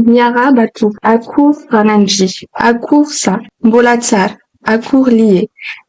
Miarahaba tompoko, akory ranandria, akory za, mbola tsara, akory lie,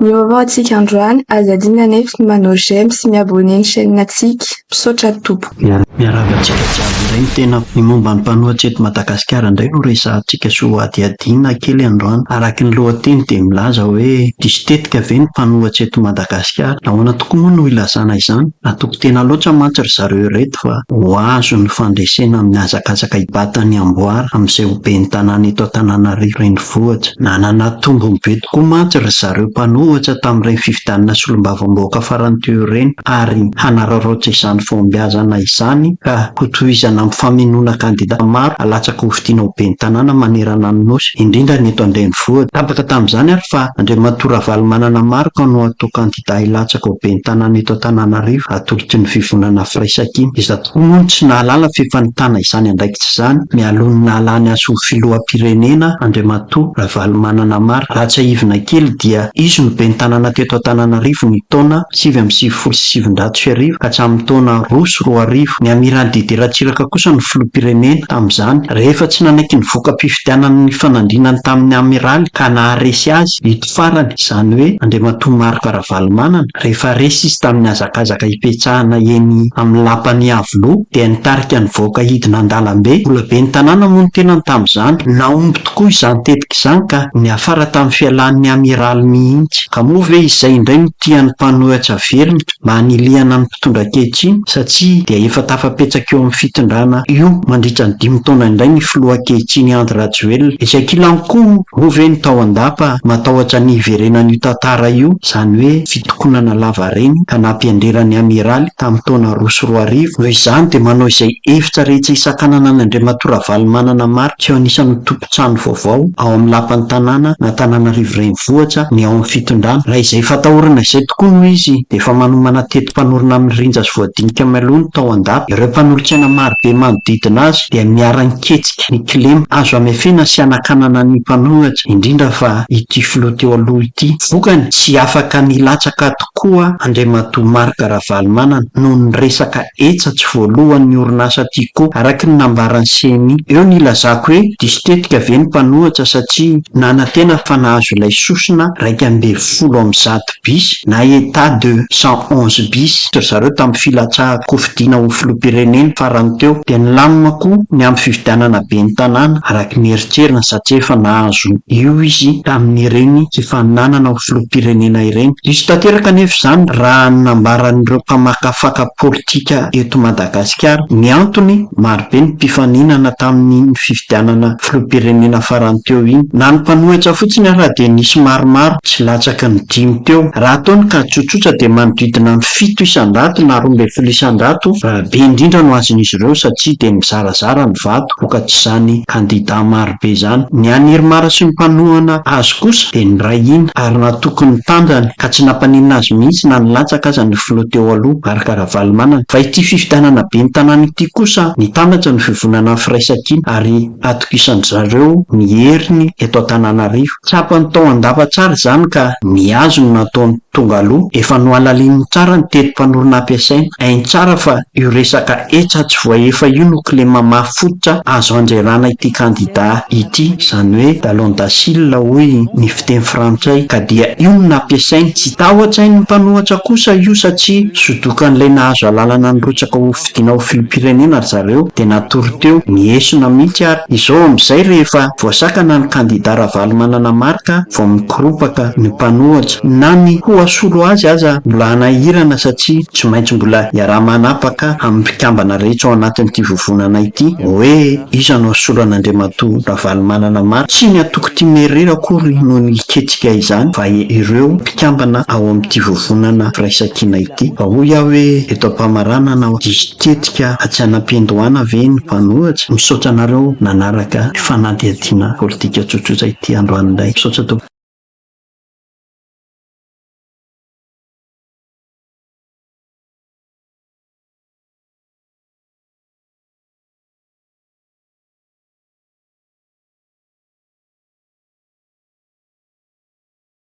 mivaovao antsika androany, aza adino anefa ny manao j'aime sy mi abonner ny chaîne antsika. Misaotra tompoko. Miarahaba antsika jiaby indray ny tenako. Ny momba ny mpanohitra eto Madagasikara indray no resahantsika sy hohadihadiana kely androany. Araky ny lohateny dia milaza hoe diso tetika ve ny mpanohitra eto Madagasikara? Nahoana tokoa moa no ilazana izany? Atoko tena loatra mantsy ry zareo ireto fa ho azo ny fandresena amin'ny hazakazaka hibata ny amboara amin'izay ho ben'ny tanàna eto Antananarivo renivohitra. Nanana tombony be tokoa mantsy ry zareo mpanohitra tamin'ireny fifidianana solombavambahoaka farany teo ireny. ary hanararaotra izany fahombiazana izany ka hotohizana amin'ny famenoana kandida maro alatsaka ho fidiana ho ben'ny tanàna manerana ny Nosy, indrindra ny eto an-drenivohitra. Tapaka tamin'izany ary fa Andriamatoa Ravalomanana Marc no hatao kandida hilatsaka ho ben'ny tanàna eto Antananarivo, atolotr'i ny Fivonana Firaisankina, izay Tokoa moa ny tsy nahalala f'efa nitana izany andraikitra izany mialoha ny nahalany azy ho filoham-pirenena Andriamatoa Ravalomanana Amar. Raha tsiahivina kely dia izy no ben'ny tanàna teto Antananarivo ny taona sivy amby sivifolo sy sivinjato sy arivo ka hatramin'ny taona roa sy roa arivo. Ny Amiral Didier Ratsiraka kosa no filoham-pirenena tamin'izany rehefa tsy nanaiky ny voka-pifidianana nifanandrinany tamin'ny Amiraly ka naharesy azy. Farany, izany hoe Andriamatoa Marc Ravalomanana, rehefa resy izy tamin'ny hazakazaka hipetsahana eny amin'ny Lapan'i Iavoloha, dia nitarika nivoaka hidina an-dalambe. Mbola ben'ny tanàna moa ny tenany tamin'izany. Nahomby tokoa izany tetika izany ka niafara tamin'ny fialan'ny Amiraly mihitsy. Ka moa ve izay indray no tian'ny mpanohitra velona mba hanilihana ny mpitondra ankehitriny satsia dia efa tafapetsaka eo amin'ny fitondrana io mandritra ny dimy taona indray ny filoha ankehitriny Andry Rajoelina. Etsy ankilany koa moa ve ny tao an-dapa matahotra ny hiverenan'io tantara io, izany hoe fitokonana lavareny ka nampianrera ny Amiraly tamin'ny taona roa sy roa arivo. Noho izany dia manao izay hevitra rehetra hisakanana an'Andriamatoa Ravalomanana Marc eo anisan'ny ho trano vaovao ao amin'ny lapan'ny tanàna an'Antananarivo Renivohitra ny ao amin'ny fitondrana. Raha izay efa atahorana izay tokoa no izy dia efa manomana teti-panorona amin'ny rinja sy voadinika mialoha ny tao an-dapa. Ireo mpanolotsaina marobe manodidina azy dia miara-niketsika ny kilema. Azo hamefena sy hanakanana ny mpanoratra, indrindra fa ity filoha teo aloha ity. Vokany, tsy afaka nilatsaka tokoa Andriamatoa Marc Ravalomanana noho ny resaka Eca tsy voalohan'ny orinasa Tiko, araka ny nambaran'i Semi. Eo ny ilazako hoe diso tetika ve ny mpanohitra satria nanantena fa nahazo ilay sosona iraika ambin'ny folo amby zato bis na Etat de cent onze bis ry zareo tamin'ny filatsahan-kofidiana ho filoham-pirenena farany teo dia nilamina koa ny amin'ny fifidianana ben'ny tanàna araka ny eritreriny satria efa nahazo io izy tamin'ireny fifaninanana filoham-pirenena ireny. Diso tanteraka anefa izany raha ny nambaran'ireo mpamakafaka politika eto Madagasikara. Ny antony, marobe ny mpifaninana tamin'iny fifidianana filoham-pirenena farany teo iny. Na ny mpanohitra fotsiny ara dia nisy maromaro tsy latsaky ny dimy teo. Raha atao ny kajy tsotsotra dia manodidina ny fito isan-jato na roa ambin'ny folo isan-jato raha be indrindra no azon'izy ireo satria dia nizarazara ny vato vokatrizany kandida maro. be izany. Ny an'i Irmar sy ny mpanohana azy kosa dia niray hina ary natoky ny tanjany ka tsy nampaninona azy mihitsy na nilatsaka aza ny filoha teo aloha, Marc Ravalomanana. Fa ity fifidianana ben'ny tanàna ity kosa nitambatra ny fivonana ny firaisankina ary atokisandry zareo ny heriny eto Antananarivo. Tsapany tao an-dava tsara izany ka nihazo ny nataony. Tonga aloha, efa nohalalininy tsara ny teti-panorona ampiasaina. Hainy tsara fa io resaka hetra tsy voaefa io no kilema mafy fototra azo handrerana ity kandida ity, izany hoe Dallon Dacil hoy ny fiteny frantsay, ka dia io no nampiasainy. Tsy tahoan-tsain'ny mpanohatra kosa io satria sodokan'ilay nahazo alalana nirotsaka ho fidiana ho filoham-pirenena ry zareo dia natory teo, nihesona mihitsy ary. Izao amin'izay rehefa voasakana ny kandida Ravalomanana Marc vao Ropaka ny mpanohatra na ny ho hasolo azy aza mbola hanahirana satria tsy maintsy mbola iaraha-manapaka amin'ny mpikambana rehetra ao anatin'ity vovonana ity hoe iza no hasolo an'Andriamatoa Ravalomanana Marc. Tsy ny antoko Tia Merera akory no niketsika izany fa ireo mpikambana ao amin'ity vovonana firaisankina ity. Fa hoy aho hoe eto am-pamaranana aho, diso tetika atsy an'ampiandohana ve ny mpanohatra? Misaotra anareo nanaraka ny fanadihadiana. Tiana politika tsotsotra ity androany indray. Misaotra tompoko.